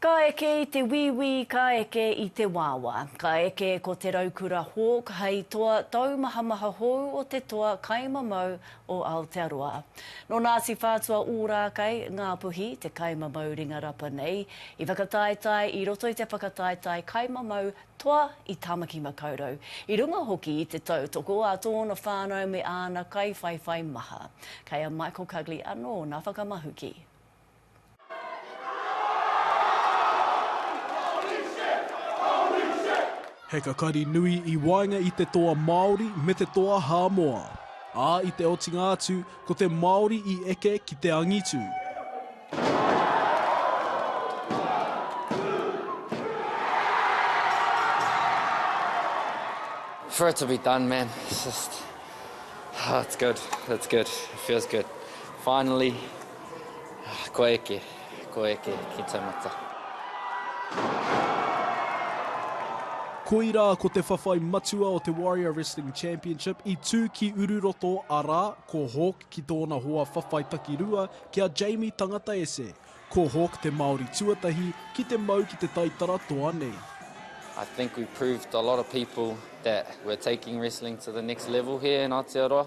Ka eke i te wīwī, ka eke i te wāwā. Ka eke ko te raukura Hawke hei toa taumahamaha hou o te toa kai mamau o Aotearoa. Nō Ngāti Whātua Ōrākei, Ngāpuhi, te kai mamau ringa rapa nei. I whakataetae i roto i te whakataetae kai mamau toa i Tāmaki Makaurau, i runga hoki i te tautoko a tōna whānau me āna kaiwhaiwhai maha. Kei a Michael Cugley anō nā whakamahuki. He kakari nui i waenga i te toa Māori me te toa Hāmoa. Ā, i te otinga atu, ko te Māori i eke ki te angitu. For it to be done, man. It's just, oh, it's good. It's good. It feels good. Finally. Kua eke, kua eke ki taumata. Koirā ko te whawhai matua o te Warrior Wrestling Championship i tū ki Ururoto arā, ko Hawk ki tōna hoa whawhai takirua ki a Jamie Tangata Ese. Ko Hawk te Māori tuatahi ki te mau ki te taitara toa nei. I think we proved a lot of people that we're taking wrestling to the next level here in Aotearoa.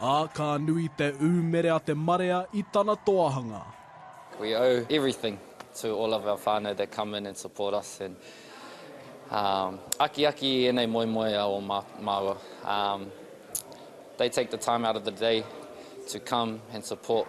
Ā, ka nui te ūmere a te marea i tana toahanga. We owe everything to all of our whānau that come in and support us and akiaki i ēnei moemoeā o māua. They take the time out of the day to come and support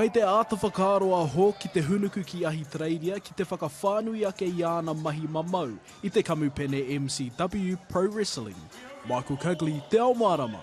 Kei te āta whakaaro a Hawke ki te hūnuku ki Ahitereiria ki te whakawhānui ake i āna mahi mamau i te kamupene MCW Pro Wrestling. Michael Cugley, Te Ao Mārama.